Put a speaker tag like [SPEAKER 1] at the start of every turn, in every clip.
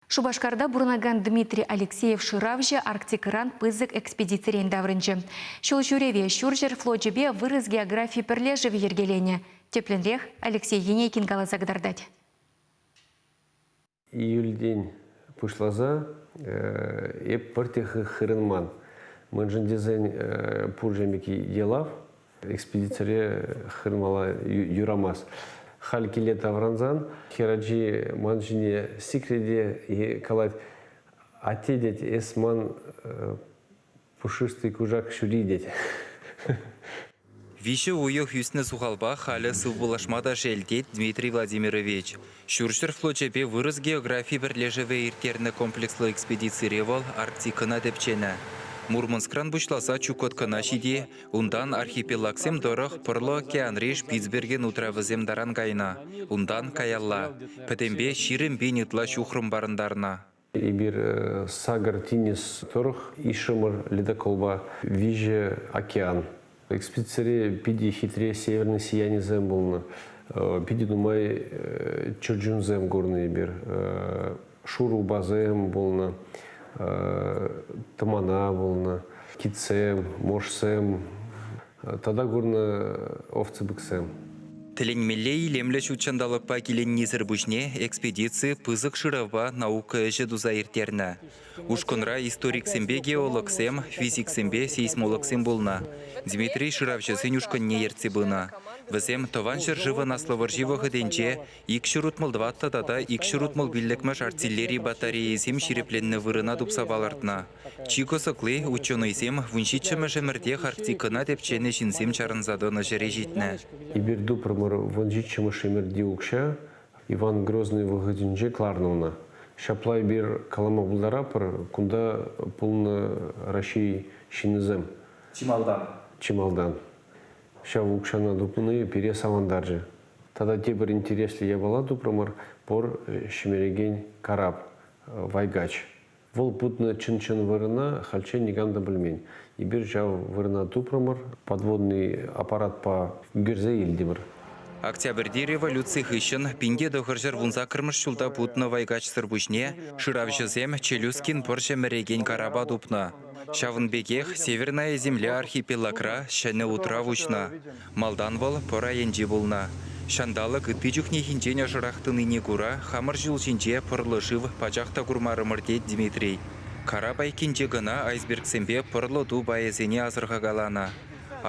[SPEAKER 1] Шупашкарта пурӑнакан Дмитрий Алексеев шыравҫӑ Арктикӑран пысӑк экспедицирен таврӑнчӗ. Ҫул ҫӳреве ҫурҫӗр флочӗпе вырӑс географи пӗрлешӗвӗ йӗркеленӗ, тӗплӗнрех Алексей Енейкин каласа кӑтартать.
[SPEAKER 2] Июльтен пуҫласа эп пӗрте хырӑнман, мӗншӗн тесен пур-ҫемӗк йӑлав Экспедицире хырмала юрамасть. Халь киле таврӑнсан хӗрачи ман ҫине сикрете калать, атте тет, эс ман пушистый кушак ҫури тет.
[SPEAKER 3] Виҫӗ уйӑх ӳснӗ сухалпа халӗ сывпуллашма та шел, тет Дмитрий Владимирович. Ҫурҫӗр флочӗпе вырӑс географи пӗрлешӗвӗ ирттернӗ комплекслӑ экспедицире вӑл Арктикӑна тӗпченӗ. Мурманскран пуҫласа Чукоткӑна ҫити, унтан архипелагсем тӑрӑх Пӑрлӑ океанри Шпицберген утравӗсем таран кайнӑ, унтан каялла, пӗтӗмпе ҫирӗм пин ытла ҫухрӑм парӑнтарнӑ. Эпир
[SPEAKER 2] Сакӑр тинӗс тӑрӑх ишӗмӗр ледоколпа виҫӗ океан. Экспедицире питӗ хитре северный сиянисем пулнӑ. Питӗ нумай чӗрчунсем курнӑ эпир. Шурӑ упасем пулнӑ, тӑмана пулнӑ, китсем, моржсем, Тата курнӑ овцепыксем. Тӗлӗнмелле
[SPEAKER 3] илемлӗ ҫут ҫанталӑкпа киленнисӗр пуҫне экспедици пысӑк шыравпа наука ӗҫӗ туса ирттернӗ. Ушкӑнра историксемпе геологсем, физиксемпе сейсмологсем пулнӑ. Дмитрий шыравҫӑсен ушкӑнне ертсе пынӑ. Вӗсем Тӑван ҫӗршывӑн Аслӑ вӑрҫи вӑхӑтӗнче ик ҫӗр утмӑл тӑваттӑ тата ик ҫӗр утмӑл пиллӗкмӗш артиллери батарейӑсем ҫирӗпленнӗ вырӑна тупса палӑртнӑ. Чи кӑсӑкли, ученӑйсем вун ҫиччӗмӗш ӗмӗртех Арктикӑна тӗпченӗ ҫынсем чарӑнса тӑнӑ ҫӗре ҫитнӗ. Эпир тупрӑмӑр,
[SPEAKER 2] вун ҫиччӗмӗш ӗмӗрти укҫа Иван Грозный вӑхӑтӗнче кӑларнӑ ӑна. Ҫапла эпир калама пултаратпӑр, кунта пулнӑ Раҫҫей ҫыннисем. Чи малтан. Чи малтан. Ҫав укҫана тупни пире савӑнтарчӗ. Тата тепӗр интереслӗ япала тупрӑмӑр, пор ҫӗмерекен карап, вайгач. Вӑл путнӑ чӑн-чӑн вырӑна хальччен никам та пӗлмен. Эпир ҫав вырӑна тупрӑмӑр, подводный аппаратпа ӳкерсе илтӗмӗр. Октябрьти
[SPEAKER 3] революци хыҫҫӑн пинте тӑхӑрҫӗр вунсаккӑрмӗш ҫулта путнӑ вайкачсӑр пуҫне шыравҫӑсем Челюскин пӑрҫӗ мӗрекен карапа тупнӑ. Ҫавӑн пекех Северная Земля архипелагра ҫӗнӗ утрав уҫнӑ. Малтан вӑл пӑр айӗнче пулнӑ. Ҫанталӑк ытти чухнехинчен ӑшӑрах тӑнине кура хамӑр ҫул ҫинче пӑрлӑ шыв пачах та курмарӑмӑр тет Дмитрий. Карап айккинче кӑна айсбергсемпе пӑрлӑ ту пайӗсене асӑрхакаланӑ.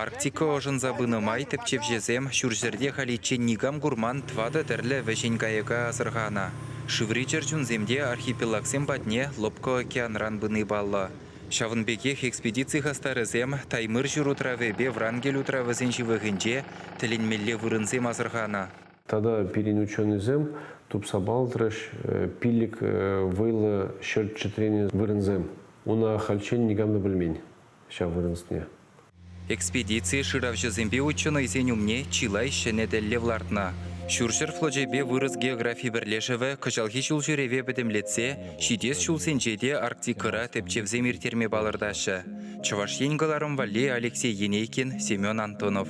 [SPEAKER 3] Арктика ӑшӑнса пынӑ май тӗпчевҫӗсем ҫурҫӗрте халиччен никам курман тӑватӑ тӗрлӗ вӗҫен кайӑка асӑрханӑ. Шыври чӗрчунсем те архипелагсем патне лӑпкӑ океанран пыни паллӑ. Ҫавӑн пекех экспедици хастарӗсем Таймыр ҫыр утравӗпе Врангель утравӗсен ҫывӑхӗнче тӗлӗнмелле вырӑнсем асӑрханӑ. Тата пирӗн
[SPEAKER 2] ученӑйсем тупса палӑртрӗҫ пилӗк вӑйлӑ ҫӗр чӗтренӗ вырӑнсем. Ун ахальччен никам та пӗлмен ҫав вырӑнсене. Экспедици
[SPEAKER 3] шыравҫӑсемпе ученӑйсен умне чылай ҫӗнӗ тӗллев лартнӑ. Ҫурҫӗр флочӗпе вырӑс географи пӗрлешӗвӗ кӑҫалхи ҫулҫӳреве пӗтӗмлетсе ҫитес ҫулсенче те Арктикӑра тӗпчевсем ирттерме палӑртаҫҫӗ. Чӑваш Ен кӑларӑм валли Алексей Енейкин, Семен Антонов.